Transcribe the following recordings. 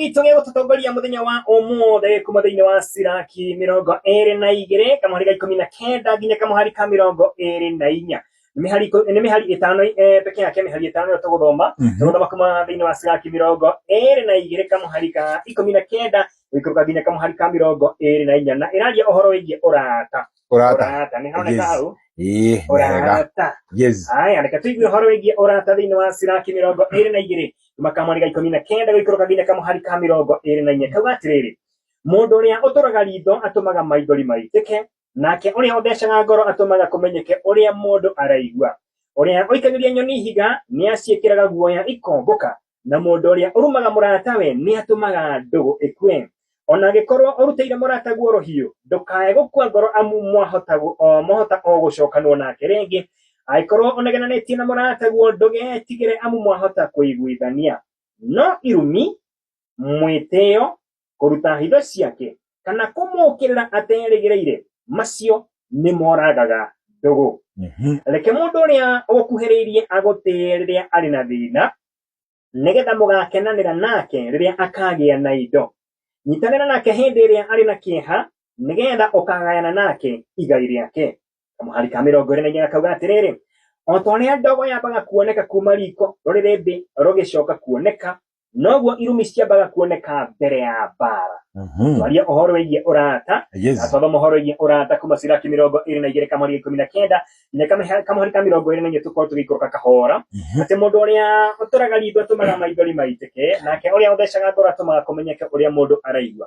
Itũ gĩa gũtũtongoria mũthenya wa ũmũthĩ kuma thĩinĩ wa Siraki mĩrongo ĩrĩ na igĩrĩ kamũhari ga ikũmi na kenda nginya kamũhari ka mĩrongo ĩrĩ na inya nĩ mĩhari ikũ- nĩ mĩhari ĩtano eh, peke yake mĩhari ĩtano ĩyo tũgũthoma Mhm. tũgũthoma kuma thĩinĩ wa Siraki mĩrongo ĩrĩ na igĩrĩ kamũhari ka ikũmi na kenda gũikũrũka nginya kamũhari ka mĩrongo ĩrĩ na inya na ĩraria ũhoro wĩgiĩ ũrata Ũrata. ũrata nĩ honeka Yes. hau Ĩĩ, nĩ wega. ũrata Yes. haya reke tũigue ũhoro wĩgiĩ ũrata thĩinĩ wa siraki mĩrongo ĩrĩ na igĩrĩ kuma kamweri ga ikũmi na kenda gũikũrũka nginya kamũhari ka mĩrongo ĩrĩ na inya kauga atĩrĩrĩ mũndũ ũrĩa ũtũraga ritho atũmaga maithori maitĩke nake ũrĩa ũthecaga ngoro atũmaga kũmenyeke ũrĩa mũndũ araigua ũrĩa ũikagĩria nyoni ihiga nĩaciĩkĩraga guoya ikombũka na mũndũ ũrĩa ũrumaga mũratawe nĩ atũmaga ndũgũ ĩkue o na angĩkorwo ũrutĩire mũrataguo rũhiũ ndũkae gũkua ngoro amu mwahotagwo o mwahota o gũcokanwo nake rĩngĩ angĩkorwo ũnegenanĩtie na mũrataguo ndũgetigĩre amu mwahota kũiguithania no irumi mwĩtĩo kũruta hitho ciake, kana kũmũũkĩrĩra aterĩgĩrĩire, macio nĩ moragaga ndũgũ. Mhm. Reke mũndũ ũrĩa ũkuhĩrĩirie agũtĩe rĩrĩa arĩ na thĩna, nĩgetha mũgakenanĩra nake rĩrĩa akagĩa na indo. Nyitanĩra nake hĩndĩ ĩrĩa arĩ na kĩeha, nĩgetha ũkagayana nake igai rĩake. Kamũhari ka mĩrongo ĩrĩ na inya gakauga atĩrĩrĩ, o ta ũrĩa ndogo yambaga kuoneka kuuma riko rũrĩrĩ thĩ rũgĩcoka kuoneka, noguo irumi ciambaga kuoneka mbere ya mbara Mhm. twaria ũhoro wĩgiĩ ũrata Yes. atwathoma ũhoro wĩgiĩ ũrata kuma ciraki mĩrongo ĩrĩ na igĩrĩ kamũhari ikũmi na kenda nginya kamĩha- kamũhari ka mĩrongo ĩrĩ na inya tũkorwo tũgĩikũrũka kahora Mhm. atĩ mũndũ ũrĩa ũtũraga ritho atũmaga maithori maitĩke nake ũrĩa ũthecaga ngoro atũmaga kũmenyeke ũrĩa mũndũ araigua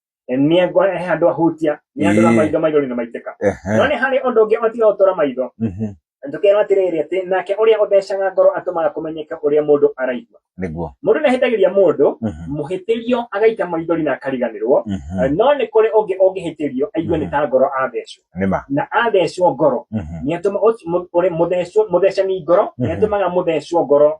Eh, nĩ andũ he handũ ahutia nĩ andũ na Ĩĩ. maitho maithori nĩ maitĩka no Ehe. nĩ harĩ ũndũ ũngĩ ũtiga gũtũra maitho Mhm. tũkerwo atĩrĩrĩ atĩ nake ũrĩa ũthecaga ngoro atũmaga kũmenyeka ũrĩa mũndũ araigua Nĩguo. mũndũ nĩ ahĩtagĩria mũndũ Mhm. mũhĩtĩrio agaita maithori na akariganĩrwo Mhm. no nĩ kũrĩ ũngĩ ũngĩhĩtĩrio aigue nĩ ta ngoro athecwo Nĩ ma. na athecwo ngoro Mhm. nĩ atũma ũci- mũ- ũrĩ- mũthecwo- mũthecani ngoro nĩ Mhm. atũmaga mũthecwo ngoro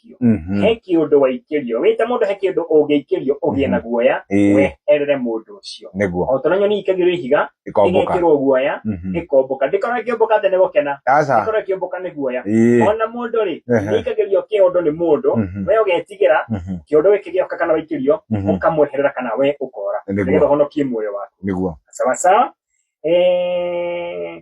ũngĩikio Mhm. he kĩũndũ waikĩrio wĩte mũndũ he kĩũndũ ũngĩikĩrio ũgĩe na guoya Ĩĩ. weherere mũndũ ũcio nĩguo o tũna nyoni ikagĩrio ihiga ikomboka ĩgekĩrwo guoya Mhm. ĩkomboka ndĩkorwo ĩkĩũmbũka atĩ nĩ gũkena aca ndĩkorwo ĩkĩũmbũka nĩ guoya Ĩĩ. ona mũndũ rĩ Ehe. nĩikagĩrio kĩũndũ nĩ mũndũ Mhm. we ũgetigĩra Mhm. kĩũndũ gĩkĩ gĩoka kana waikĩrio Mhm. ũkamweherera kana we ũkora Nĩguo. nĩgetha ũhonokie muoyo waku nĩguo sawasawa Eh,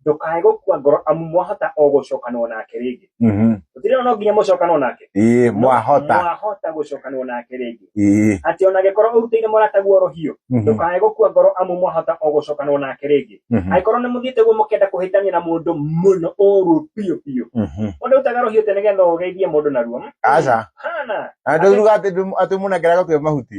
ndukae gukua ngoro amu mwahota o gucokanwo nake ringi Mhm. utirona no nginya mucokanwo nake ĩĩ No, mwahota mwahota gucokanwo nake ringi ĩĩ ati ona ngikorwo urutire murata guo rohio Mhm. ndukae gukua ngoro amu mwahota o gucokanwo nake ringi Mhm. angikorwo ni muthiite guo mukienda kuhitania na mundu muno uru biu biu Mhm. mundu utaga rohio te nigetha ugeithie mundu naruo aca hana andå ruga atä må nengeraga twä mahuti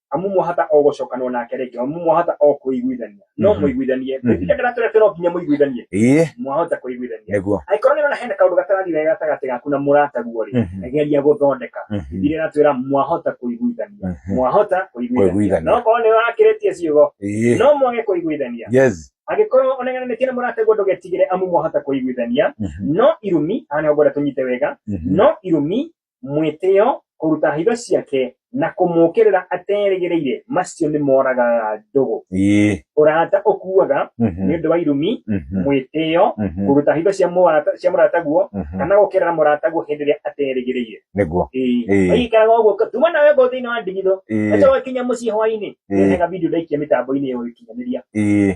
amu mwahota o gũcokanwo nake rĩngĩ amu mwahota o kũiguithania no Mhm. mũiguithanie Mhm. nginya kana tũrĩa no nginya mũiguithanie ĩĩ mwahota kũiguithania nĩguo angĩkorwo nĩ ũrona hena kaũndũ gatarathiĩ wega gatagatĩ gaku na mũrataguo rĩ Mhm. geria gũthondeka Mhm. Bibilia ĩratwĩra mwahota kũiguithania Mhm. mwahota kũiguithania Kũiguithania. no korwo nĩ wakĩrĩtie ciugo ĩĩ no mwage kũiguithania yes angĩkorwo onengananĩtie na mũrataguo ndũgetigĩre amu mwahota kũiguithania Mhm. no irumi haha nĩho ngwenda tũnyite wega Mhm. no irumi mwĩtĩo, kũruta hitho ciake, na kũmũkĩrĩra aterĩgĩrĩire, macio nĩ moragaga ndũgũ. Ĩĩ. Ũrata ũkuaga Mhm. nĩ ũndũ wa irumi, Mhm. mwĩtĩo, Mhm. kũruta hitho cia mũrata- cia mũrataguo, Mhm. kana gũkĩrĩra mũrataguo hĩndĩ ĩrĩa aterĩgĩrĩire. Nĩguo. Ĩĩ. Ĩĩ. Waikaraga ũguo, ka- tuma nawe ngoo thĩinĩ wa ndigithũ, Ĩĩ. Aca wakinya mũciĩ hwainĩ Ĩĩ. nĩhega video ndaikia mĩtambo-inĩ ya ũkinyanĩria Ĩĩ.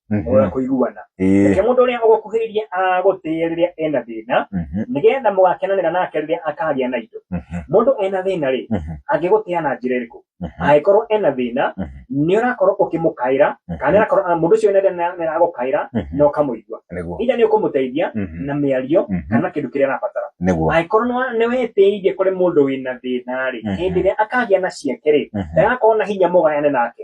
Mhm. ũrĩa kũiguana Ĩĩ. nake mũndũ ũrĩa ũgũkuhĩrĩria agũtĩe rĩrĩa ena thĩna Mhm. nĩgetha mũgakenanĩra nake rĩrĩa akagĩa na indo Mhm. mũndũ ena thĩna rĩ Mhm. angĩgũtĩa na njĩra ĩrĩkũ Mhm. angĩkorwo ena thĩna Mhm. nĩ ũrakorwo ũkĩmũkaĩra kana nĩrakorwo ah, mũndũ ũcio wĩna thĩna nĩ aragũkaĩra Mhm. na ũkamũigua Nĩguo. ida nĩ ũkũmũteithia Mhm. na mĩario Mhm. kana kĩndũ kĩrĩa arabatara Nĩguo. angĩkorwo nĩ wa- nĩ wetĩirie kũrĩ mũndũ wĩna thĩna rĩ Mhm. hĩndĩ ĩrĩa akagĩa na ciake rĩ Mhm. ndagakorwo na hinya mũgayane nake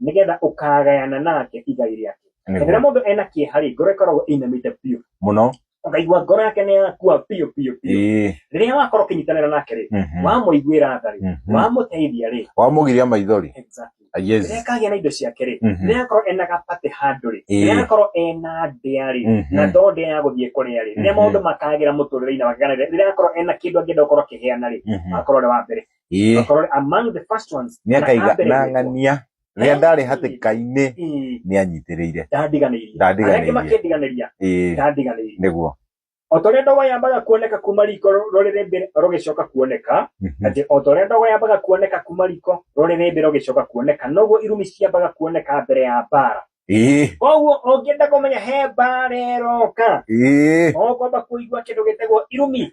nigetha ukagayana nake igai riake Nĩguo. na rĩrĩa mũndũ ena kĩeha rĩ ngoro ĩkoragwo ĩinamĩte biũ muno ũkaigua ngoro yake nĩ yakua biũ biũ biũ Ĩĩ. rĩrĩa wakorwo ũkĩnyitanĩra nake rĩ Mhm. wamũiguĩra tha rĩ Mhm. wamũteithia rĩ wamugiria maithori exactly. Ah, yes rĩrĩa kagĩa na indo ciake rĩ Mhm. rĩrĩa akorwo ena gapate handũ rĩ Ĩĩ. rĩrĩa akorwo ena ndĩa rĩ Mhm. na to ndĩa ya gũthiĩ kũrĩa rĩ rĩrĩa Mhm. maũndũ makagĩra mũtũrĩre-inĩ wake kana rĩrĩa rĩrĩa akorwo ena kĩndũ angĩenda gũkorwo akĩheana rĩ Mhm. akorwo arĩ wa mbere ĩĩ Akorwo among the first ones. nĩ akaiga na ambere gwĩtwo. ng'ania rĩrĩa ndarĩ hatĩka-inĩ Ĩĩ, nĩ anyitirĩire Ndandiganĩirie. Ndandiganĩirie. Arĩa angĩ makĩndiganĩria. ĩĩ Ndandiganĩirie. nĩguo O ta ũrĩa ndogo yambaga kuoneka kuma riko rũrĩrĩ mbere rũgĩcoka kuoneka, Mhm. atĩ o ta ũrĩa ndogo yambaga kuoneka kuma riko rũrĩrĩ mbere rũgĩcoka kuoneka, noguo irumi ciambaga kuoneka mbere ya mbaara. ĩĩ Koguo ũngĩenda kũmenya he mbaara ĩroka, ĩĩ no ngwamba kũigua kĩndũ gĩtagwo irumi.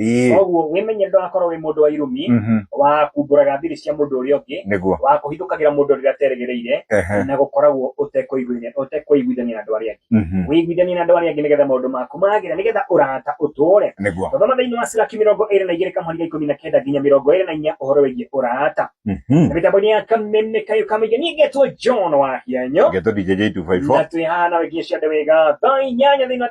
Ii. koguo wĩmenye ndũgakorwo wĩ mũndũ wa irumi Mhm. wa kumbũraga thiri cia mũndũ ũrĩa ũngĩ Nĩguo. wa kũhithũkagĩra mũndũ rĩrĩa aterĩgĩrĩire Ehe. na gũkoragwo ũtekũiguithania ũtekũiguithania na andũ arĩa angĩ Mhm. wĩiguithanie na andũ arĩa angĩ nĩgetha maũndũ maku magĩre nĩgetha ũrata ũtũũre Nĩguo. twathoma thĩinĩ wa ciraki mĩrongo ĩrĩ na igĩrĩ kamũhari ga ikũmi na kenda nginya mĩrongo ĩrĩ na inya ũhoro wĩgiĩ ũrata Mhm. na mĩtambo-inĩ ya kameme kayo kamaingĩ niĩ ngetwo john wa hianyo Ngetwo DJ na J254. twĩ haha nawe nginya ciande wega thaa inyanya thĩinĩ wa